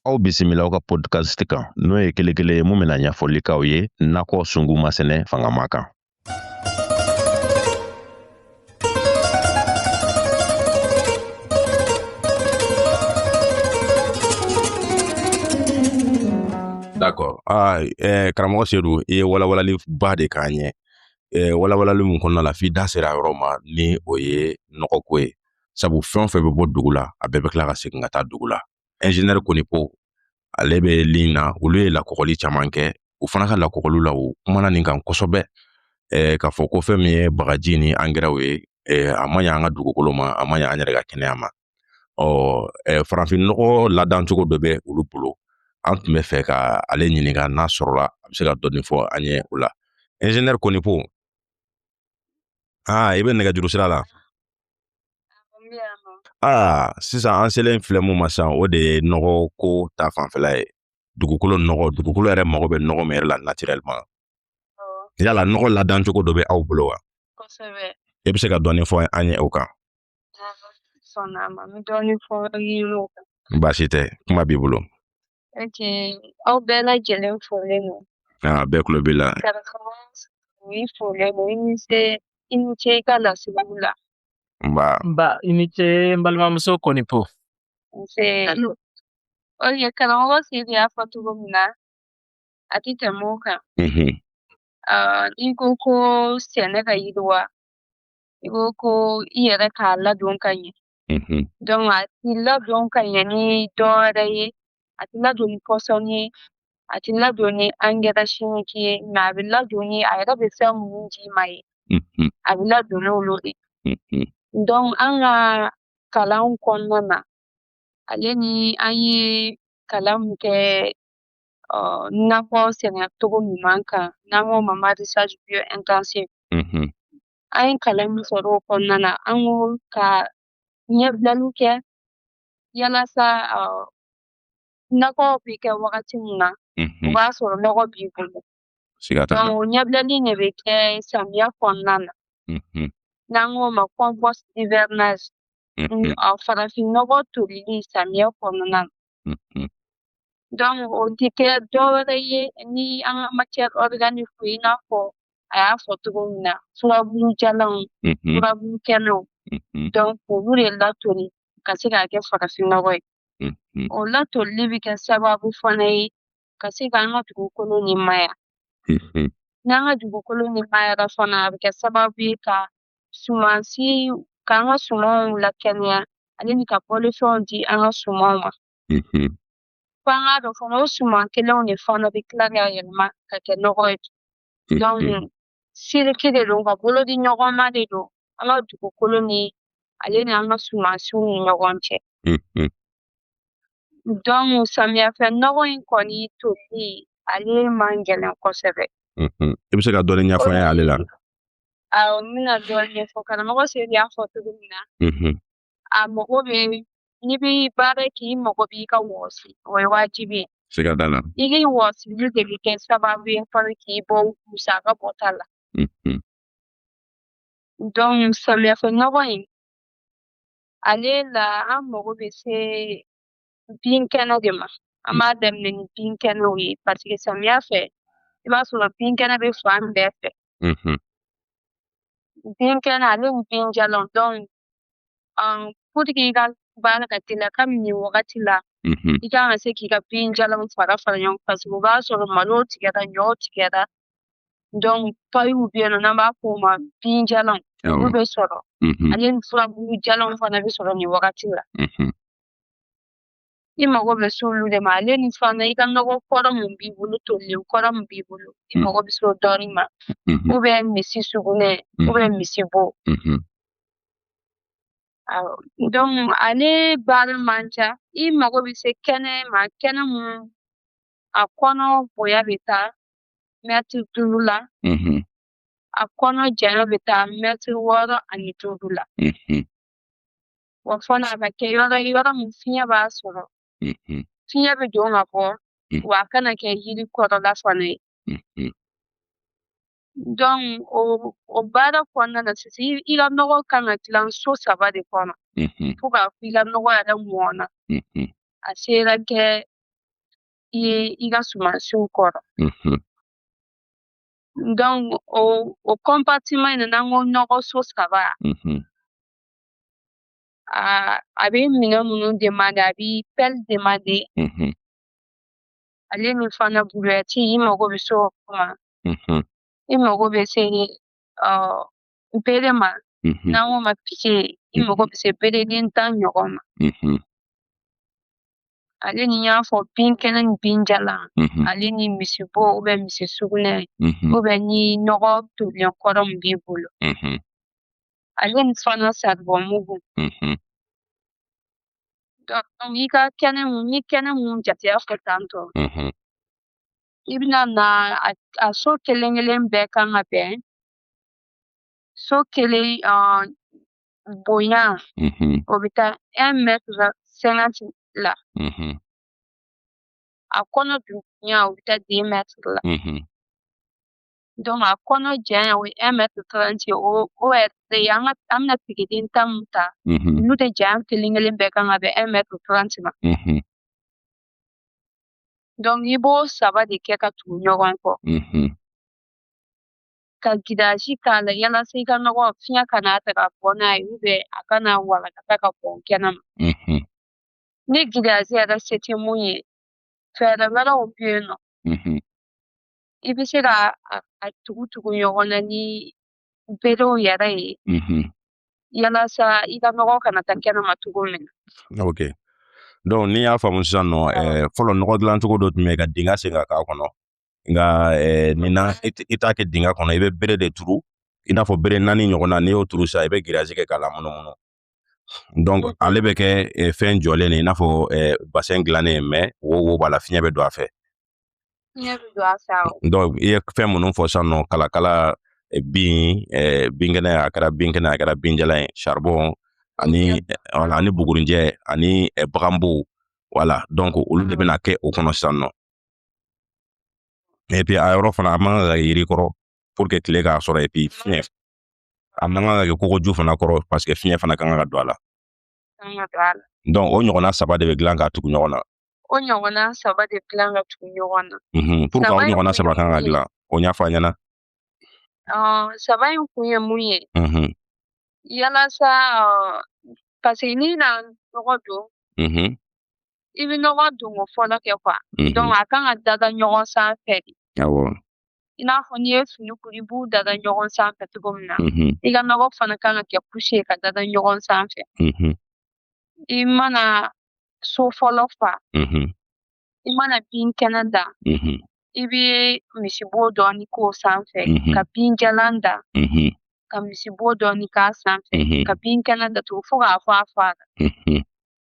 aw bisimila aw ka podcast kan n'o ye kelekele ye mun bɛna ɲɛfɔli k'aw ye nakɔ sungu masɛnɛ fangama kan d'accord ah, eh, karamɔgɔ sedu i ye walawalali ba de k'an ye eh, walawalali mun kɔnɔna la f'i da sera yɔrɔ ma ni o ye nɔgɔko ye sabu fɛn o fɛn bɛ bɔ dugu la a bɛɛ bɛ tila ka segin ka taa dugu la ɛnzinɛri konipo ale bɛ ligne na olu ye lakɔgɔli caman kɛ u fana ka lakɔgɔliw la u kumana nin kan kosɛbɛ eh, k'a fɔ ko fɛn min ye bagaji ni angɛrɛw ye eh, a ma ɲa an ka dugukolo ma a ma ɲa an yɛrɛ ka kɛnɛya ma ɔ eh, farafinnɔgɔ ladancogo dɔ bɛ olu bolo an tun bɛ fɛ ka ale ɲininka n'a sɔrɔla a bɛ se ka dɔɔnin fɔ an ye o la ɛnzinɛri konipo aa i bɛ nɛgɛjuru sira la aa sisan an selen filɛ mun ma sisan o de ye nɔgɔ ko ta fanfɛla ye dugukolo nɔgɔ dugukolo yɛrɛ mago bɛ nɔgɔ min yɛrɛ la naturellement yala nɔgɔ ladancogo dɔ bɛ aw bolo wa kosɛbɛ i bɛ se ka dɔɔni fɔ an ye o kan sɔnna ma n bɛ dɔɔni fɔ i ye o kan baasi tɛ kuma b'i bolo ok aw bɛɛ lajɛlen folen don aa bɛɛ tulo b'i la karamɔgɔ u y'i folen don i ni se i ni ce i ka lasigiw la nba nba i ni ce n balimamuso konipo nse ok karamɔgɔ sedu y'a fɔ cogo min na a tɛ tɛmɛ o kan mhm, Ah, n'i ko ko sɛnɛ ka yiriwa i ko ko i yɛrɛ k'a ladon ka ɲɛ a ti ladon ka ɲɛ ni dɔwɛrɛ ye a ti ladon ni pɔsɔni ye a ti ladon ni engrais chimique ye mais a bɛ ladon ni a yɛrɛ bɛ fɛn minnu d'i ma ye a bɛ ladon n'olu de donc an ka kalanw kɔnɔna na ale ni an ye kalan min kɛ nakɔ sɛnɛ cogo ɲuman kan n'an k'o ma maraîchage bio intensive an ye kalan min sɔrɔ o kɔnɔna na an ko ka ɲɛbilaliw kɛ yalasa nakɔ bɛ kɛ wagati min na o b'a sɔrɔ nɔgɔ b'i bolo o ɲɛbilali de bɛ kɛ samiya kɔnɔna na n'an k'o ma compost d'hivernage farafinnɔgɔ tolili samiya kɔnɔna na donc o tɛ kɛ dɔwɛrɛ ye ni an ka matière organique i n'a fɔ a y'a fɔ cogo min na furabulu jalanw furabulu kɛnɛw donc olu de latoli ka se k'a kɛ farafinnɔgɔ ye o latolili bɛ kɛ sababu fana ye ka se ka an ka dugukolo nimaya n'an ka dugukolo nimayara fana a bɛ kɛ sababu ye ka sumansi k'an ka sumanw lakɛnɛya ale ni ka balofɛnw di an ka sumanw ma fo an k'a dɔn fana o suman kelenw de fana bɛ tila ka yɛlɛma ka kɛ nɔgɔ ye siriki de don ka bolo di ɲɔgɔn ma de don an ka dugukolo ni ale ni an ka sumansiw ni ɲɔgɔn cɛ donc samiyɛfɛ nɔgɔ in kɔni toli ale man gɛlɛn kosɛbɛ i bɛ se ka dɔɔni ɲɛfɔ an ye ale la awɔ n bɛna dɔɔni ɲɛfɔ karamɔgɔ seri y'a fɔ cogo min na a mago bɛ n'i bɛ baara kɛ i mago b'i ka wɔsi o ye wajibi ye siga t'a la i ka wɔsili de bɛ kɛ sababu ye fana k'i bɔ musaka bɔta la mhm. donc samiyɛfɛ nɔgɔ in ale la an mago bɛ se binkɛnɛ de ma an b'a daminɛ ni binkɛnɛw ye paseke samiya fɛ i b'a sɔrɔ binkɛnɛ bɛ fan bɛɛ fɛ mm-hmm. binkɛnɛ ale ni binjalan dɔnku um, puriki i ka baara ka teliya kabini nin wagati la mm-hmm. i kan ka se k'i ka binjalanw fara fara ɲɔgɔn paseke o b'a sɔrɔ malo tigɛra ɲɔ tigɛra dɔnku payiw bɛ yen nɔ n'an b'a fɔ o ma binjalanw olu bɛ sɔrɔ mm-hmm. ale ni furabulu jalanw fana bɛ sɔrɔ nin wagati la I mago bɛ s'olu de ma ale ni fana i ka nɔgɔ kɔrɔ min b'i bolo tolilen kɔrɔ min b'i bolo i mm. mago bɛ s'o dɔɔni ma mm-hmm. ubiyɛn misi sugunɛ mm-hmm. ubiyɛn misi bo mm-hmm. awɔ donc ale baara man ca i mago bɛ se kɛnɛ ma kɛnɛ mun a kɔnɔ bonya bɛ taa mɛtiri duuru la a kɔnɔ janya bɛ taa mɛtiri wɔɔrɔ ani duuru la wa fana a ka kɛ yɔrɔ ye yɔrɔ min fiɲɛ b'a sɔrɔ fiɲɛ bɛ don ka bɔ wa a kana kɛ yiri kɔrɔla fana ye donc o o baara kɔnɔna na sisan i ka nɔgɔ kan ka dilan so saba de kɔnɔ fo k'a fɔ i ka nɔgɔ yɛrɛ mɔna a sera kɛ i ka sumansiw kɔrɔ donc o o compartiment in n'an ko nɔgɔ so saba a a bɛ minɛn minnu demande a bɛ pɛli demande Mhm, ale ni fana burɛti i mago bɛ se o ma mhm, i mago bɛ se ɔ bere ma mhm, n'an k'o ma pike i mago bɛ se bereden tan ɲɔgɔn ma mhm, ale ni n y'a fɔ bin kɛnɛ ni bin jalan mhm, ale ni misibo ubiyɛn misi sugunɛ mhm, ubiyɛn ni nɔgɔ tolilen kɔrɔ min b'i bolo mhm, ale ni fana saribɔn mugu n'i ka kɛnɛ mun ni kɛnɛ mun jateya fɔ tantɔ i bɛna na a so kelen kelen bɛɛ kan ka bɛn so kelen bonya o bɛ taa un mètre cinquante la a kɔnɔ dunya o bɛ taa deux mètres la Donc a kɔnɔ janya o ye un mètre 30 ye o o yɛrɛ de ye an ŋa an bɛna pikɛden tan min ta unhun olu de janya kelen-kelen bɛɛ kan ka bɛn un mètre 30 ma unhun donc i b'o saba de kɛ ka tugu ɲɔgɔn kɔ unhun ka giriyazi k'a la yalasa i ka nɔgɔ fiɲɛ kana ta ka bɔ n'a ye ou bien a kana walagata ka bɔn kɛnɛma unhun ni giriyazi yɛrɛ se tɛ mun ye fɛɛrɛ wɛrɛw bɛ yen nɔ unhun i bɛ se ka a tugu tugu ɲɔgɔn na ni berew yɛrɛ ye mm-hmm. yalasa i ka nɔgɔ kana taa kɛnɛma cogo min na ok donc ni n y'a faamu sisan nɔ eh, fɔlɔ nɔgɔ dilan cogo dɔ tun bɛ ka dingɛ sen ka k'a kɔnɔ nka eh, nin na i t'a kɛ dingɛ kɔnɔ i bɛ bere de turu i n'a fɔ bere naani ɲɔgɔn na n'i y'o turu sisan i bɛ giriyazi kɛ k'a lamunumunu donc ale bɛ kɛ eh, fɛn jɔlen de i n'a fɔ eh, basɛn dilannen mais wo wo b'a la fiɲɛ bɛ don a fɛ donc i ye fɛn minnu fɔ sisan nɔ kalakala eh, bin eh, binkɛnɛ a kɛra binkɛnɛ a kɛra binjalan ye charbon ani wala ani bugurinjɛ ani eh, baganbow voilà donc olu de bɛna kɛ o kɔnɔ sisan nɔ et puis a yɔrɔ fana a man kan ka yiri kɔrɔ pour que tile k'a sɔrɔ et puis fiɲɛ A man kan ka kɛ kogoju fana kɔrɔ parce que fiɲɛ fana kan ka don a la. Donc o ɲɔgɔnna saba de bɛ dilan ka tugu ɲɔgɔn na. O ɲɔgɔnna saba de dilan ka tugu ɲɔgɔn na. Pourquoi o ɲɔgɔnna saba kan ka dilan o ɲɛfɔ an ɲɛna. Saba in kun ye mun ye yalasa parce que n'i na nɔgɔ don i bɛ nɔgɔ don ko fɔlɔ kɛ quoi donc a kan ka dada ɲɔgɔn sanfɛ de i n'a fɔ n'i ye fini kuru i b'u dada ɲɔgɔn sanfɛ cogo min na i ka nɔgɔ fana kan ka kɛ couche ye ka dada ɲɔgɔn sanfɛ i mana so fɔlɔ fa i mana bin kɛnɛ da i bɛ misibo dɔɔni k'o sanfɛ ka bin jalan da ka misibo dɔɔni k'a sanfɛ ka bin kɛnɛ da tugun fo k'a fɔ a fara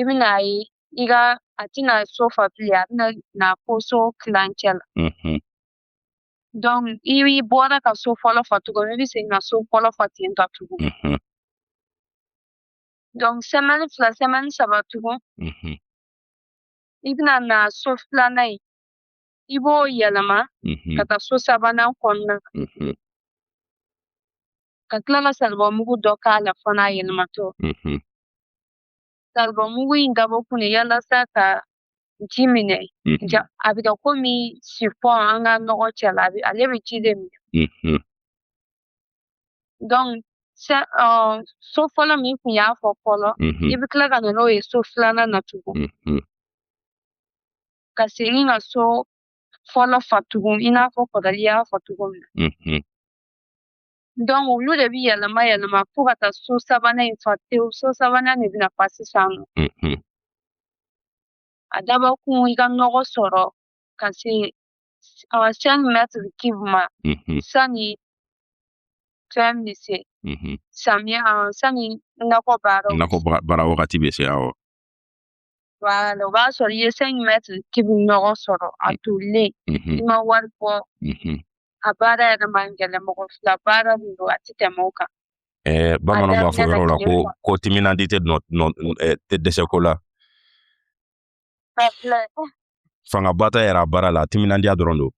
i bɛna a ye i ka a tɛna so fa bilen a bɛna na fo so kilancɛ la donc i bɔra ka so fɔlɔ fa cogo min i bɛ segin ka so fɔlɔ fa ten tɔ tugun donc sɛmɛni fila sɛmɛni saba tugun i bɛna na so filanan ye i b'o yɛlɛma ka taa so sabanan kɔnɔna na ka tila ka saribɔn mugu dɔ k'a la fana a yɛlɛmatɔ mhm. saribɔn mugu in dabɔ kun ye yalasa ka ji minɛ mhm. ja a bɛ kɛ komi sifɔn an ka nɔgɔ cɛ la ale bɛ ji de minɛ mhm. donc so fɔlɔ min kun y'a fɔ fɔlɔ i bɛ tila ka na n'o ye so filanan na tugun ka segin ka so fɔlɔ fa tugun i n'a fɔ kɔrɔlen y'a fɔ cogo min na Donc olu de bi yɛlɛma yɛlɛma fo ka taa so sabanan in fa tewu so sabanan de bɛna fa sisan nɔ Mhm. a dabɔ kun i ka nɔgɔ sɔrɔ ka se awa cinq mètres cube ma Mhm. sani fɛn bɛ se Mhm. samiya awa sani nakɔ baaraw nakɔ ba- baara wagati bɛ se awɔ voilà o b'a sɔrɔ i ye cinq mètres cube ɲɔgɔn sɔrɔ a tolilen i ma wari bɔ a baara yɛrɛ man gɛlɛn mɔgɔ fila baara de don a tɛ tɛmɛ o kan ɛɛ bamananw b'a fɔ yɔrɔ la ko ko timinandi tɛ dɛsɛ ko la fangaba tɛ yɛrɛ a baara la timinandiya dɔrɔn don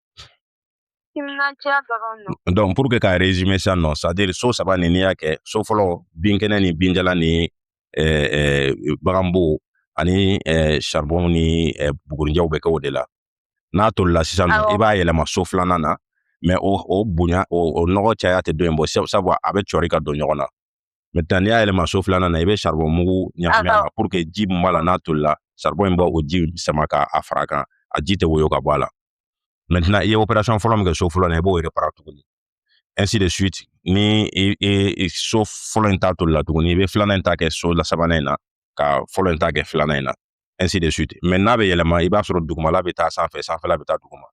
timinandiya dɔrɔn don donc pour que ka résumer sisan nɔ c'est à dire so saba nin n'i y'a kɛ so fɔlɔ binkɛnɛ ni binjalan ni eh, eh, baganbo ani eh, charbon ni eh, bugurinjɛw bɛ kɛ o de la n'a tolila sisan nɔ i b'a yɛlɛma so filanan na mais o, o bonya o, o nɔgɔ caya tɛ dɔ in bɔ sabu a bɛ cɔri ka don ɲɔgɔn na maintenant n'i y'a yɛlɛma so filanan na i bɛ saribɔn mugu ɲagami a la pour que ji min b'a la n'a tolila saribɔn in bɛ o ji sama ka a fara kan a ji tɛ woyo ka bɔ a la maintenant i ye opération fɔlɔ min kɛ so fɔlɔ la i b'o réparer tuguni ainsi de suite ni i i so fɔlɔ in ta tolila tuguni i bɛ filanan in ta kɛ so la sabanan in na ka fɔlɔ in ta kɛ filanan in na ainsi de suite mais n'a bɛ yɛlɛma i b'a sɔrɔ dugumala bɛ taa sanfɛ sanfɛla bɛ taa duguma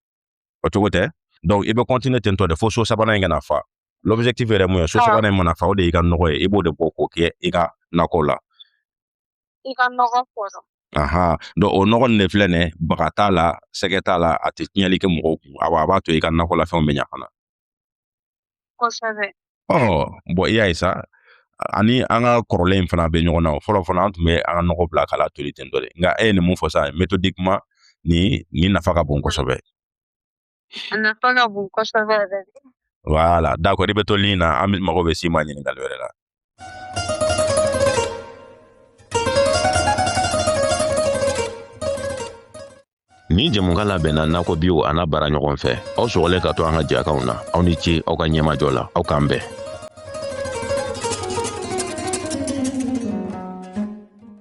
o cogo tɛ donc i bɛ continuer ten tɔ de fo so sabanan in ka na fa l'objectif yɛrɛ mun ye so sabanan in mana fa o de y'i ka nɔgɔ ye i b'o de bɔ k'o kɛ i ka nakɔ la i ka nɔgɔ kɔrɔ aha donc o nɔgɔ nin de filɛ nin baga t'a la sɛgɛ t'a la a tɛ tiɲɛli kɛ mɔgɔw kun a b'a to i ka nakɔlafɛnw bɛ ɲa fana bon i y'a ye sa ani an ka kɔrɔlen in fana bɛ ɲɔgɔn na o fɔlɔ fɔlɔ an tun bɛ an ka nɔgɔ bila k'a latoli ten tɔ de nka e ye nin mun fɔ sa méthodiquement nin nafa ka bon kosɛbɛ a nafa ka bon kosɛbɛ yɛrɛ voilà d'accord i bɛ to ligne na an bɛ mago bɛ s'i ma ɲininkali wɛrɛ la Nin jɛmukan labɛnna nakɔ biw a n'a baara ɲɔgɔn fɛ aw sɔgɔlen ka to an ka jɛkanw na aw ni ce aw ka ɲɛmajɔ la aw k'an bɛn